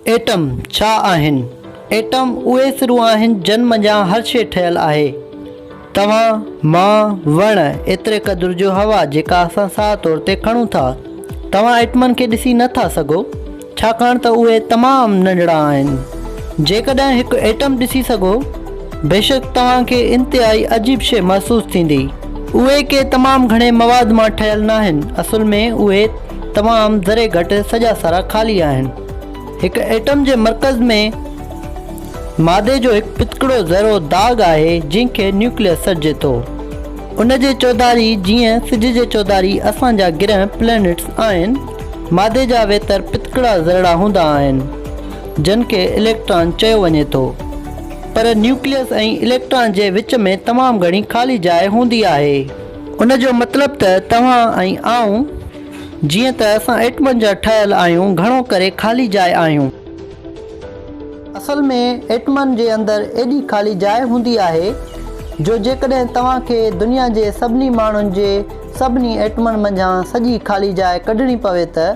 Atom ڇا آهن؟ Atom اهي سرون آهن جن منجهان هر شيء ٺهيل آهي. توهان، مان، وڻ، ايتري قدر جو هوا جيڪا اسان ساهه طور تي کڻون ٿا. توهان ايٽمن کي ڏسي نه ٿا سگهو ڇاڪاڻ ته اهي تمام ننڍڙا آهن. جيڪڏهن هڪ ايٽم ڏسي سگهو بيشڪ توهان کي انتهائي عجيب شيء محسوس ٿيندي. اهي ڪي تمام گهڻي مواد مان ٺهيل ناهن اصل ۾ اهي. تمام ذري گهٽ سڄا سرا خالي آهن. هڪ ايٽم جي مرڪز ۾ مادي جو هڪ پتڪڙو ذرو داغ آهي جنهن کي نيوڪليس سڏجي ٿو. ان جي چوڌاري جيئن سج جي چوڌاري اسان جا گرهه، Planets، آهن، مادي جا ويتر پتڪڙا ذرڙا هوندا آهن جن کي اليڪٽران چيو وڃي ٿو. پر نيوڪليس ۽ اليڪٽران جي وچ ۾ تمام گهڻي خالي جاء هوندي آهي. ان جو مطلب ته توهان ۽ آئون، جيئن ته اسان ايٽمن جا ٺهيل آهيون، گهڻو ڪري خالي جاء آهيون. اصل ۾ ايٽمن جي اندر ايڏي خالي جاء هوندي آهي، جو جيڪڏهن توهان کي دنيا جي سڀني ماڻهن جي سڀني ايٽمن منجهان سڄي خالي جاء ڪڍڻي پوي ته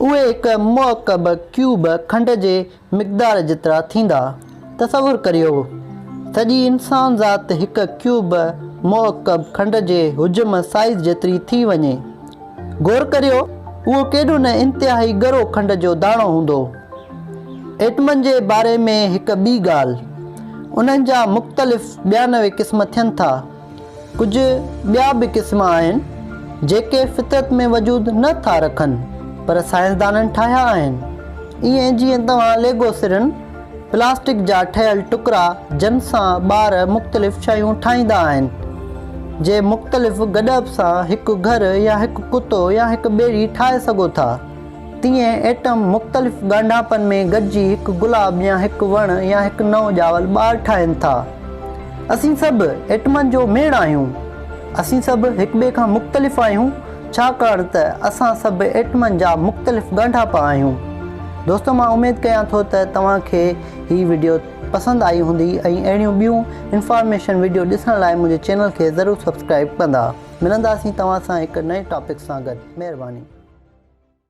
اهي هڪ مؤڪب ڪيوب کنڊ جي مقدار جيترا ٿيندا. تصور ڪريو سڄي انسان ذات هڪ ڪيوب مؤڪب کنڊ جي حجم، Size، جيتري ٿي وڃي. غور ڪريو اهو ڪيڏو نه انتهائي ڳرو کنڊ جو داڻو هوندو. ايٽمن جي باري ۾ هڪ ٻي ڳالهه. انهن جا مختلف ٻيانوي قسم ٿين ٿا. ڪجهه ٻيا به قسم آهن جيڪي فطرت ۾ وجود نه ٿا رکن پر سائنسدانن ٺاهيا آهن. ائين جيئن توهان ليگو سرن، پلاسٽڪ جا ٺهيل ٽڪرا جن سان ٻار مختلف شيون ٺاهيندا آهن، جي مختلف گڏپ سان هڪ گهر يا هڪ ڪتو يا هڪ ٻيڙي ٺاهي سگهو ٿا. تيئن ايٽم مختلف ڳانڍاپن ۾ گڏجي هڪ گلاب يا هڪ وڻ يا هڪ نئون ڄاول ٻار ٺاهين ٿا. اسين سڀ ايٽمن جو ميڙ آهيون. اسين سڀ هڪٻئي کان مختلف آهيون ڇاڪاڻ ته اسان سڀ ايٽمن جا مختلف ڳانڍاپا آهيون. دوستو مان اميد ڪيان ٿو ته توهان کي هي وڊيو پسند آئي هوندي ۽ اهڙيون ٻيون انفارميشن وڊيو ڏسڻ لاء منهنجي چينل کي ضرور سبسڪرائب ڪندا. ملنداسين توهان سان هڪ نئين ٽاپڪ سان گڏ. مهرباني.